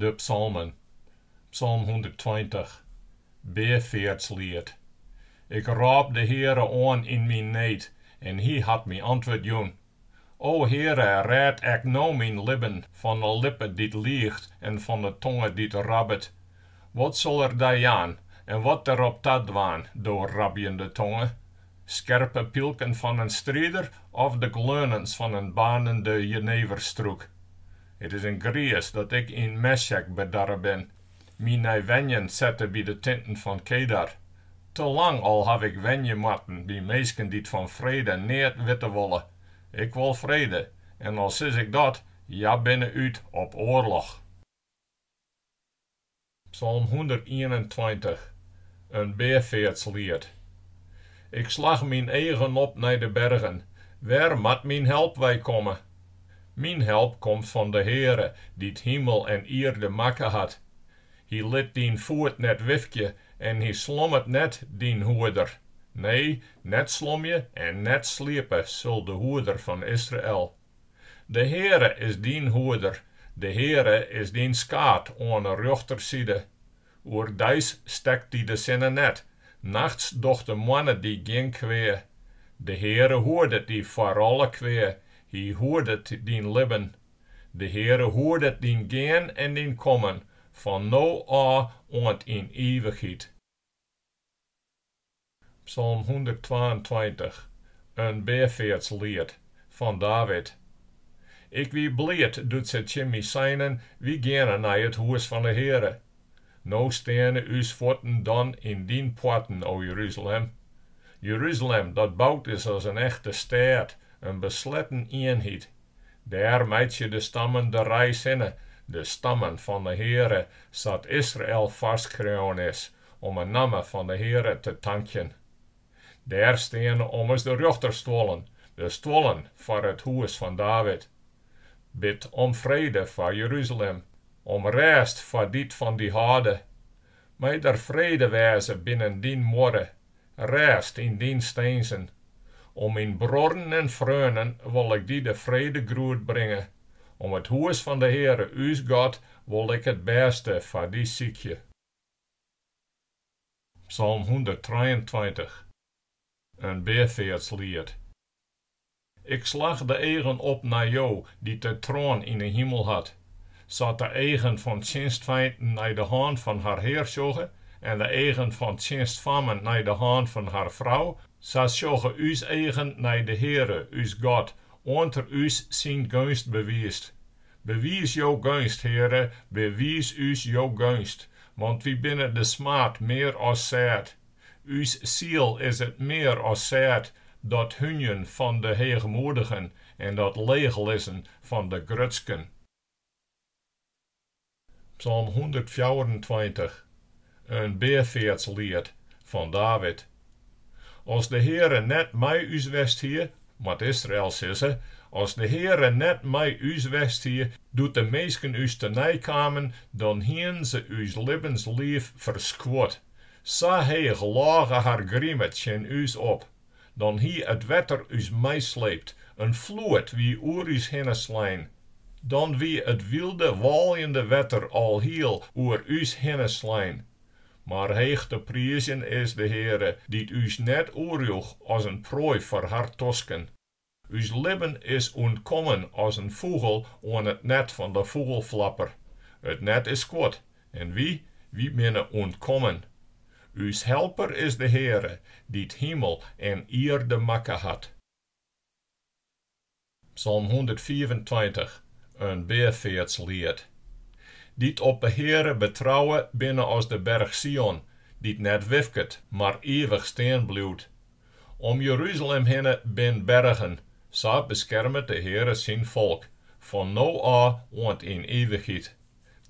De psalmen, psalm hûnderttweintich, beafeartsliet. Ik rôp de Heare oan yn myn need en Hy hat my antwurd jûn. O Heare, rêd ek no myn libben fan 'e lippe dy't liicht en fan 'e tonge dy't rabbet. Wat sil er dy jaan en wat derop ta dwaan, do rabjende tonge? skerpe pylken fan in strider of de gleunens fan in baarnende jeneverstrûk. It is in griis dat ik yn Mesjek bedarre bin. My nei wenjen sette by de tinten fan Kedar. Te lang al haw ik wenje moatten by minsken dy't fan frede neat witte wolle. Ik wol frede, en al sis ik dat, hja binne út op oarloch. Psalm hûndertienentweintich, in beafeartsliet. Ik slach myn eagen op nei de bergen, wêr moat myn help wei komme? Myn help komt fan de Heare, dy't himel en ierde makke hat. Hy lit dyn foet net wifkje en hy slommet net, dyn hoeder. Nee, net slomje en net sliepe sil de Hoeder fan Israel. De Heare is dyn hoeder, de Heare is dyn skaad oan 'e rjochterside. Oerdeis stekt dy de sinne net, nachts docht de moanne dy gjin kwea. De Heare hoedet dy foar alle kwea, Hy hoedet dyn libben. De Heare hoedet dyn gean en dyn kommen, fan no ôf oant yn ivichheid. Psalm hûnderttwaentweintich, in beafeartsliet fan David. Ik wie bliid doe't se tsjin my seinen, Wy geane nei it hûs fan 'e Heare. No steane ús fuotten dan yn dyn poarten, o Jeruzalem. Jeruzalem, dat boud is as in echte stêd, in besletten ienheid. Dêr meitsje de stammen de reis hinne, de stammen fan 'e Heare, sa't Israel foarskreaun is, Om 'e namme fan 'e Heare te tankjen. Dêr steane ommers de rjochterstuollen, de stuollen foar it hûs fan David. Bid om frede foar Jeruzalem, om rêst foar dy't fan dy hâlde. Mei der frede wêze binnen dyn muorre, rêst yn dyn steenzen. Om myn bruorren en freonen wol ik dy de fredegroet bringe, om it hûs fan 'e Heare ús God wol ik it bêste foar dy sykje. Psalm hûnderttrijeentweintich, In beafeartsliet. Ik slach de eagen op nei Jo, dy't de troan yn 'e himel hat, sa't de eagen fan tsjinstfeinten nei de hân fan har hear sjogge en de eagen fan tsjinstfammen nei de hân fan har frou, sa sjogge ús eagen nei de Heare, ús God, oant Er ús syn geunst bewiist. Bewiis jo geunst, Heare, bewiis ús jo geunst, want wy binne de smaad mear as sêd. Us siel is it mear as sêd, dat hunjen fan de heechmoedigen en dat leechlizzen fan de grutsken. Psalm hûndertfjouwerentweintich, in beafeartsliet fan David. As de Heare net mei ús west hie, moat Israel sizze, as de Heare net mei ús west hie, doe't de minsken ús tenei kamen, dan hienen se ús libbensliif ferskuord. Sa heech lôge har grime tsjin ús op, Dan hie it wetter ús meisleept, in floed wie oer ús hinne slein. Dan wie it wylde, wâljende wetter alhiel oer ús hinne slein. Mar heech te priizjen is de Heare, dy't ús net oerjoech as in proai foar har tosken. Us libben is ûntkommen as in fûgel oan it net fan de fûgelflapper. It net is skuord, en wy, wy binne ûntkommen. Us helper is de Heare, dy't himel en ierde makke hat. Psalm hûndertfiifentweintich, in beafeartsliet. Dy't op de Heare betrouwe, binne as de berch Sion, dy't net wifket, mar ivich stean bliuwt, Om Jeruzalem hinne bin bergen, sa beskermet de Heare syn folk, fan no ôf oant yn ivichheid.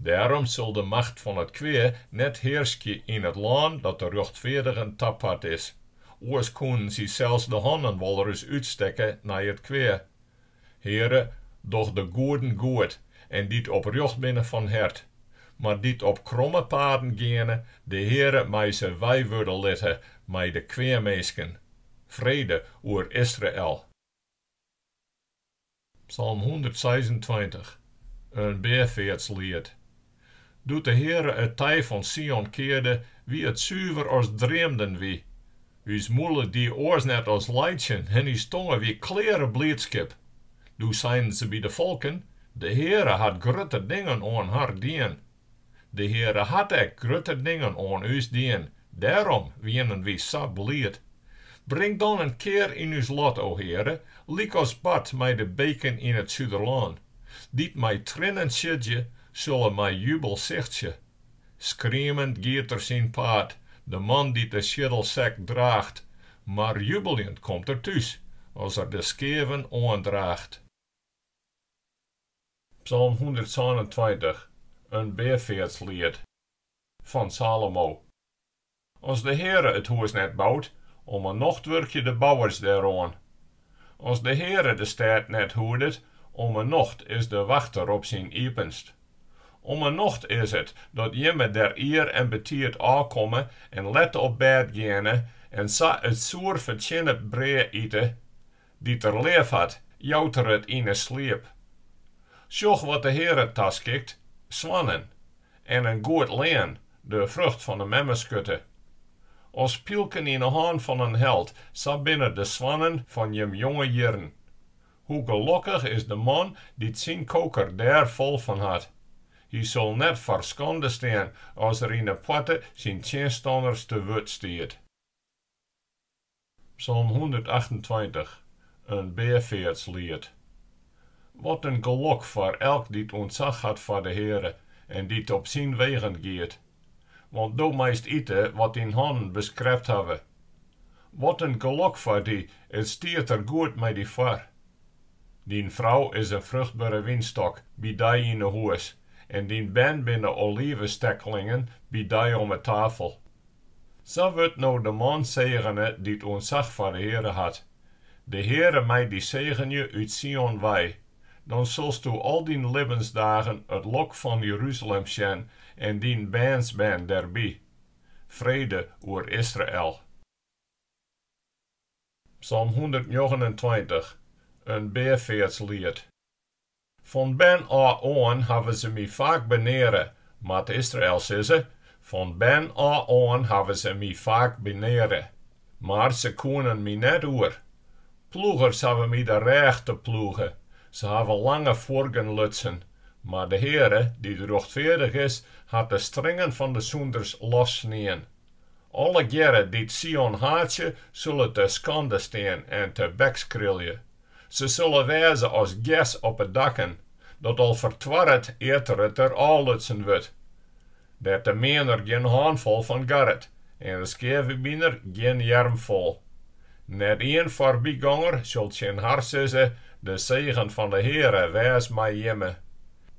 Dêrom sil de macht fan it kwea net hearskje yn it lân dat de rjochtfeardigen tapart is, oars koenen sy sels de hannen wolris útstekke nei it kwea, Heare, doch de goeden goed en dy't oprjocht binne fan hert. Mar dy't op kromme paden geane, de Heare mei se weiwurde litte mei de kweaminsken. Frede oer Israel! Psalm hûndertseisentweintich, in beafeartsliet. Doe't de Heare it tij fan Sion kearde, wie it suver as dreamden wy. Us mûle die oars net as laitsjen en ús tonge wie kleare bliidskip. Doe seinen se by de folken, De Heare hat grutte dingen oan har dien. De Heare hat ek grutte dingen oan ús dien, dêrom wienen wy sa bliid. Bring dan in kear yn ús lot, o Heare, lykas bart mei de beken yn it suderlân. Dy't mei triennen siedzje, sille mei jubel sichtsje. Skriemend giet er syn paad, de man dy't de sieddelsek draacht, mar jubeljend komt er thús, as er de skeaven oandraacht. Psalm hûndertsânentweintich, in beafeartsliet, fan Salomo. As de Heare it hûs net boud, om 'e nocht wurkje de bouwers deroan. As de Heare de stêd net hoedet, om 'e nocht is de wachter op syn iepenst. Om 'e nocht is it dat jimme der ier en betiid ôfkomme en let op bêd geane en sa it soer fertsjinne brea ite, dy't er leaf hat, jout er it yn 'e sliep. Sjoch wat de Heare taskikt, soannen, en in goed lean, De frucht fan 'e memmeskurte. As pylken yn 'e hân fan in held, sa binne de soannen fan jim jonge jierren. Hoe gelokkich is de man dy't syn koker dêr fol fan hat. Hy sil net foar skande stean as er yn 'e poarte syn tsjinstanners te wurd stiet. Psalm hûndertachtentweintich, In beafeartsliet. Wat in gelok foar elk dy't ûntsach hat foar de Heare en dy't op syn wegen giet! Want do meist ite wat dyn hannen beskrept hawwe. Wat in gelok foar dy, it stiet der goed mei dy foar! Dyn frou is in fruchtbere wynstok by dy yn 'e hûs en dyn bern binne olivestekkelingen by dy om 'e tafel. Sa wurdt no de man segene dy't ûntsach foar de Heare hat. De Heare mei dy segenje út Sion wei, dan silsto al dyn libbensdagen it lok fan Jeruzalem sjen en dyn bernsbern derby. Frede oer Israel. Psalm hûndertnjoggenentweintich, in beafeartsliet. Fan bern ôf oan hawwe se my faak beneare, moat Israel sizze, fan bern ôf oan hawwe se my faak beneare, mar se koenen my net oer. Ploegers hawwe my de rêch teploege, se hawwe lange fuorgen lutsen, mar de Heare, dy't rjochtfeardich is, hat de stringen fan de sûnders lossnien. Allegearre dy't Sion haatsje, sille te skande stean en tebekskrilje, Se sille wêze as gers op 'e dakken, dat al fertoarret ear't it der ôflutsen wurdt. Dêr't de meaner gjin hânfol fan garret en de skeavebiner gjin earmfol. Net ien foarbyganger sil tsjin har sizze, De segen fan 'e Heare wês mei jimme.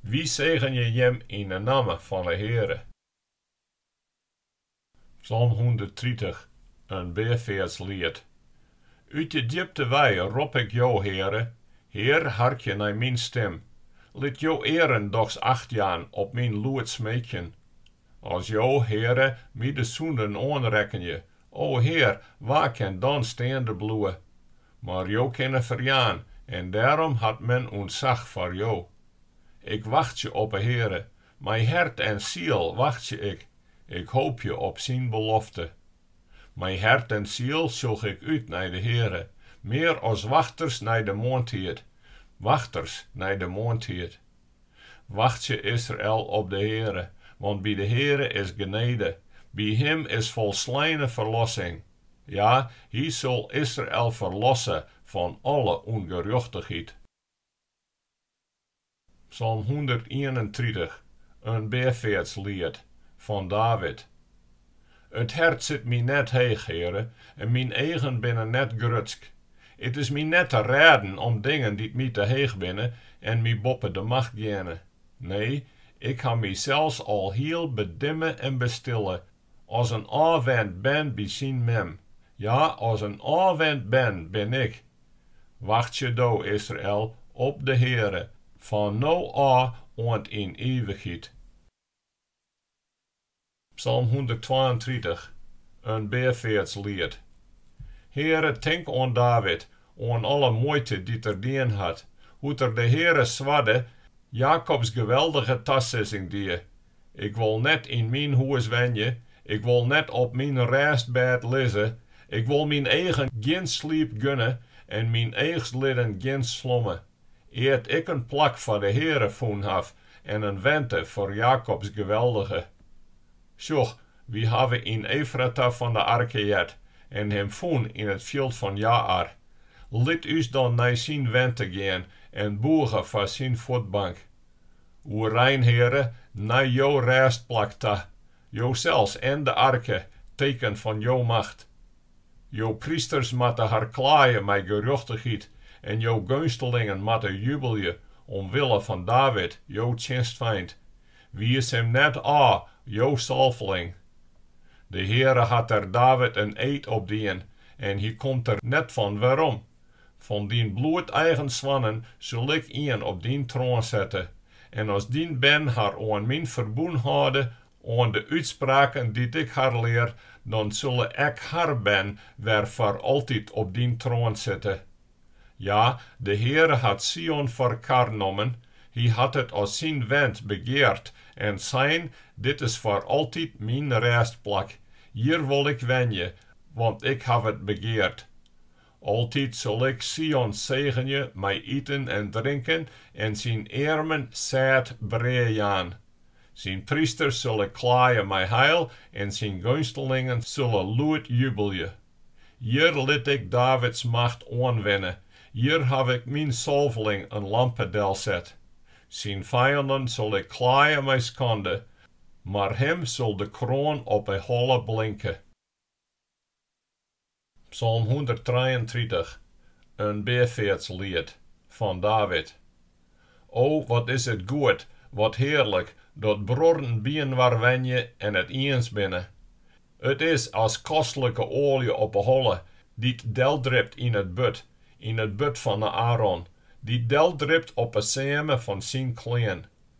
Wy segenje jim yn 'e namme fan 'e Heare. Psalm hûnderttritich, In beafeartsliet. Ut de djipte wei rop ik Jo, Heare, Hear, harkje nei myn stim, lit Jo earen dochs acht jaan op myn lûd smeekjen. As Jo, Heare, my de sûnden oanrekkenje, o Hear, wa kin dan steande bliuwe? Mar Jo kinne ferjaan, en dêrom hat men ûntsach foar Jo. Ik wachtsje op 'e Heare, Mei hert en siel wachtsje ik, ik hoopje op syn belofte. Mei hert en siel sjoch ik út nei de Heare, mear as wachters nei de moarntiid, wachters nei de moarntiid. Wachtsje Israel op de Heare, want by de Heare is genede, by Him is folsleine ferlossing, ja, Hy sil Israel ferlosse fan alle ûngerjochtichheid. Psalm hûndertienentritich, in beafeartsliet fan David. It hert sit my net heech, Heare, en myn eagen binne net grutsk. It is my net te rêden om dingen dy't my te heech binne en my boppe de macht geane. Nee, ik ha mysels alhiel bedimme en bestille, As in ôfwend bern by syn mem. Ja, as in ôfwend bern bin ik. Wachtsje do, Israel, op de Heare, fan no ôf oant yn ivichheid. Psalm hûnderttwaentritich, in beafeartsliet. Heare, tink oan David, oan alle muoite dy't er dien hat, hoe't er de Heare swarde, Jakobs Geweldige tasizzing die, Ik wol net yn myn hûs wenje, ik wol net op myn rêstbêd lizze, ik wol myn eagen gjin sliep gunne en myn eachslidden gjin slomme, ear't ik in plak foar de Heare fûn haw en in wente foar Jakobs Geweldige. Sjoch, wy hawwe yn Efrata fan de arke heard en him fûn yn it fjild fan Jaar. Lit ús dan nei syn wente gean en bûge foar syn fuotbank. Oerein, Heare, nei jo rêstplak ta, josels en de arke, teken fan jo macht. Jo prysters moatte har klaaie mei gerjochtichheid en jo geunstelingen moatte jubelje omwille fan David, jo tsjinstfeint. Wiis him net ôf, jo salveling. De Heare hat der David in eed op dien en hy komt der net fan werom. Fan dyn bloedeigen soannen sil ik ien op dyn troan sette, en as dyn bern har oan myn ferbûn hâlde, oan de útspraken dy't ik har lear, dan sille ek har bern wer foar altyd op dyn troan sitte. Ja, de Heare hat Sion foar kar nommen, hy hat it as syn went begeard en sein, Dit is foar altyd myn rêstplak, hjir wol ik wenje, want ik haw it begeard. Altyd sil Ik Sion segenje mei iten en drinken en syn earmen sêd brea jaan. Syn prysters sil Ik klaaie mei heil en syn geunstelingen sille lûd jubelje. Hjir lit Ik Davids macht oanwinne, hjir haw Ik myn salveling in lampe delset. Syn fijanden sil Ik klaaie mei skande, mar him sil de kroan op 'e holle blinke. Psalm hûnderttrijeentritich, in beafeartsliet fan David. O, wat is it goed, wat hearlik, dat bruorren byinoar wenje en it iens binne! It is as kostlike oalje op 'e holle, dy't deldript yn it burd, yn it burd fan Aaron, dy't deldript op 'e seame fan syn klean.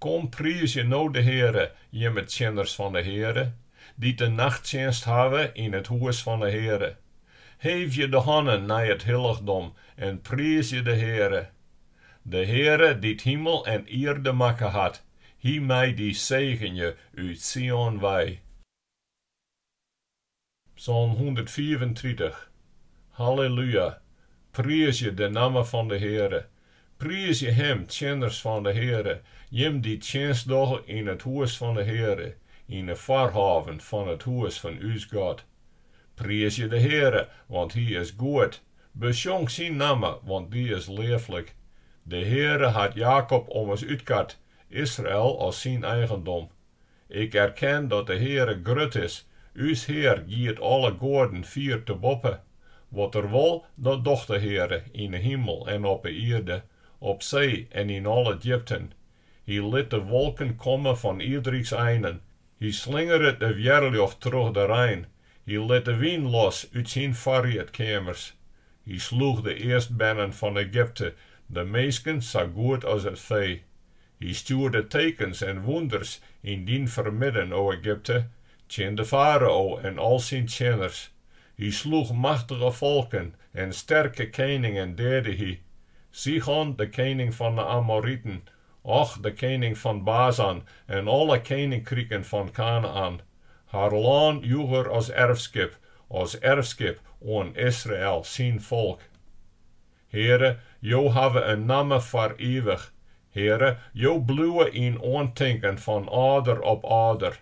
Kom, priizgje no de Heare, jimme tsjinners fan 'e Heare, dy't de nachttsjinst hawwe yn it hûs fan 'e Heare. Heefje de hannen nei it hillichdom en priizgje de Heare. De Heare, dy't himel en ierde makke hat, hy mei dy segenje út Sion wei. Psalm hûndertfiifentritich. Halleluja! Priizgje de namme fan de Heare! Priizgje Him, tsjinners fan de Heare, jim dy't tsjinst dogge yn it hûs fan de Heare, yn 'e foarhôven fan it hûs fan ús God. Priizgje de Heare, want Hy is goed, besjong Syn namme, want dy is leaflik. De Heare hat Jakob ommers útkat, Israel as Syn eigendom. Ik erken dat de Heare grut is, ús Heare giet alle goaden fier te boppe. Wat er wol, dat docht de Heare, yn 'e himel en op 'e ierde, op see en yn alle djipten. Hy lit de wolken komme fan ierderiks einen, hy slingeret de wjerljocht troch de rein, hy lit de wyn los út syn foarriedkeamers. Hy sloech de earstbernen fan Egypte, de minsken sa goed as it fee. Hy stjoerde tekens en wûnders yn dyn fermidden, o Egypte, tsjin de farao en al syn tsjinners. Hy sloech machtige folken, en sterke keningen deade hy, Sigon, de kening fan 'e Amoriten, Och, de kening fan Bazan, en alle keninkriken fan Kanaän. Har lân joech er as erfskip, as erfskip oan Israel, syn folk. Heare, Jo hawwe in namme foar ivich, Heare, Jo bliuwe yn oantinken fan âlder op âlder.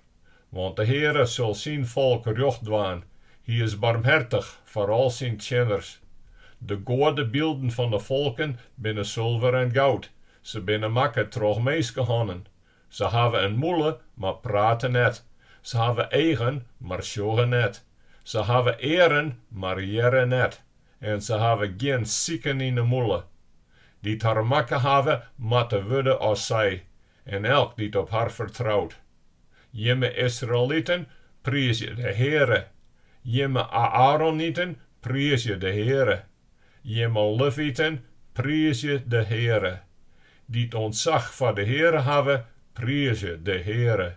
Want de Heare sil syn folk rjocht dwaan, Hy is barmhertich foar al syn tsjinners. De goadebylden fan de folken binne sulver en goud, se binne makke troch minskehannen. Se hawwe in mûle, mar prate net, se hawwe eagen, mar sjogge net, se hawwe earen, mar hearre net. en se hawwe gjin siken yn 'e mûle. Dy't har makke hawwe, moatte wurde as sy, en elk dy't op har fertrout. Jimme Israeliten, priizje de Heare! Jimme Aaroniten, priizje de Heare! Jimme Leviten, priizje de Heare! Dy't ûntsach foar de Heare hawwe, priizje de Heare!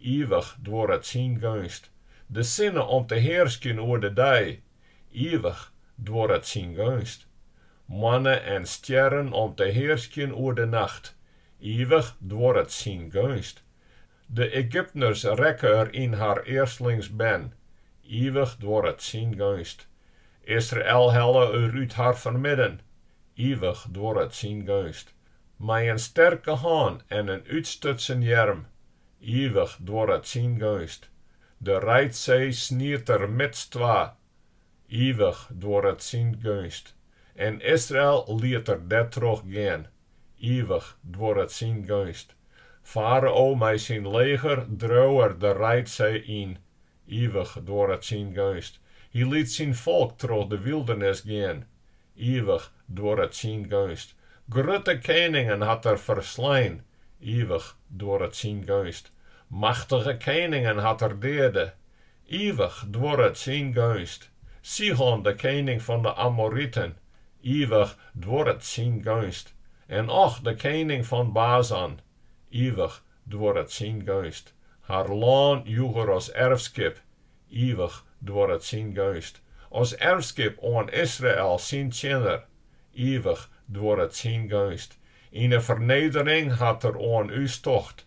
Ivich duorret syn geunst. De sinne om te hearskjen oer de dei. Ivich duorret syn geunst. Moanne en stjerren om te hearskjen oer de nacht. Ivich duorret syn geunst. De Egyptners rekke er yn har earstlingsbern. Ivich duorret syn geunst. Israel helle er út har fermidden. Ivich duorret syn geunst. Mei in sterke hân en in útstutsen earm, ivich duorret syn geunst. De Reidsee snied er midstwa, ivich duorret syn geunst. En Israel liet er dêrtroch gean, ivich duorret syn geunst. Farao mei syn leger dreau er de Reidsee yn, Ivich duorret syn geunst. Hy liet syn folk troch de wyldernis gean. Ivich duorret syn geunst. Grutte keningen hat er ferslein. Ivich duorret syn geunst. Machtige keningen hat er deade. Ivich duorret syn geunst. Sihon, de kening fan de Amoriten. Ivich duorret syn geunst. En Og, de kening fan Basan. ivich duorret syn geunst, har lân joech er as erfskip, ivich duorret syn geunst, as erfskip oan Israel syn tsjinner, ivich duorret syn geunst, yn 'e fernedering hat er oan ús tocht,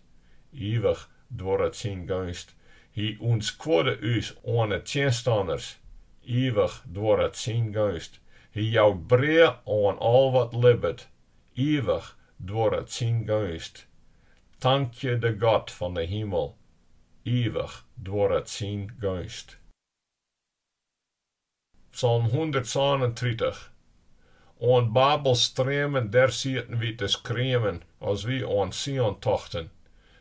ivich duorret syn geunst, hy ûntskuorde ús oan 'e tsjinstanners, ivich duorret syn geunst, hy jout brea oan al wat libbet, ivich duorret syn geunst. Tankje de God fan de himel, ivich duorret syn geunst. Psalm hûndertsânentritich. Oan Babels streamen dêr sieten wy te skriemen as wy oan Sion tochten.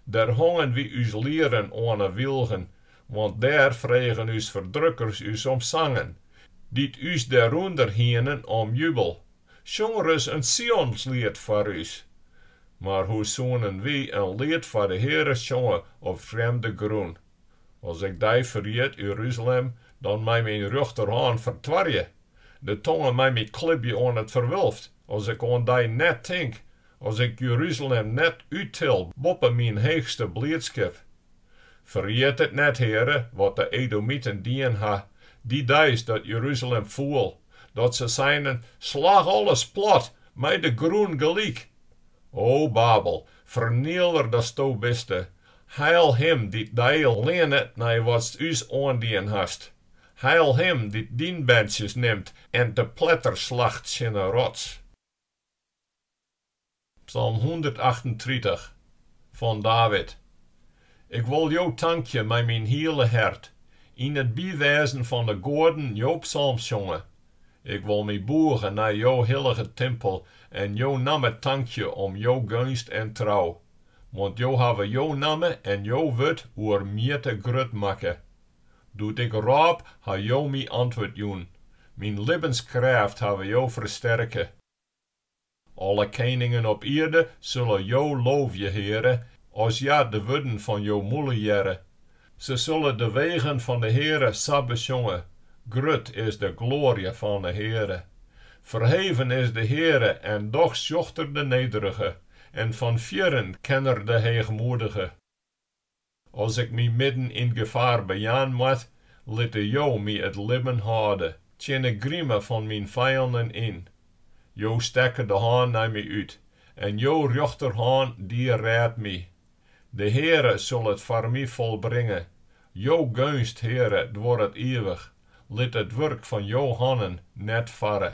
Dêr hongen wy ús lieren oan 'e wylgen, want dêr fregen ús ferdrukkers ús om sangen, dy't ús derûnder hienen om jubel, Sjong ris in Sionsliet foar ús. Mar hoe soenen wy in liet foar de Heare sjonge op frjemde grûn? As ik dy ferjit, Jeruzalem, dan mei myn rjochterhân fertoarje. De tonge mei my klibje oan it ferwulft, as ik oan dy net tink, as ik Jeruzalem net úttil boppe myn heechste bliidskip. Ferjit it net, Heare, wat de Edomiten dien ha, dy deis dat Jeruzalem foel dat se seinen, Slach alles plat, mei de grûn gelyk! O Babel, ferniler datsto biste, heil him dy't dy leannet nei watst ús oandien hast, heil him dy't dyn berntsjes nimt en te pletter slacht tsjin 'e rots. Psalm hûndertachtentritich, fan David. Ik wol Jo tankje mei myn hiele hert, yn it bywêzen fan 'e goaden Jo psalmsjonge. Ik wol my bûge nei Jo hillige timpel en Jo namme tankje om Jo geunst en trou, want Jo hawwe Jo namme en Jo wurd oer mjitte grut makke. Doe't ik rôp, ha Jo my antwurd jûn, myn libbenskrêft hawwe Jo fersterke. Alle keningen op ierde sulle jo loofje, Heare, as hja de wurden fan jo mûle hearre. Se sulle de wegen fan de Heare sa besjonge, Grut is de gloarje fan 'e Heare! Ferheven is de Heare en dochs sjocht er de nederige, en fan fierren ken er de heechmoedige. As ik my midden yn gefaar bejaan moat, litte Jo my it libben hâlde, tsjin 'e grime fan myn fijannen yn. Jo stekke de hân nei my út, en Jo rjochterhân die rêd my. De Heare sil it foar my folbringe. Jo geunst, Heare, duorret ivich, lit it wurk fan Jo hannen net farre.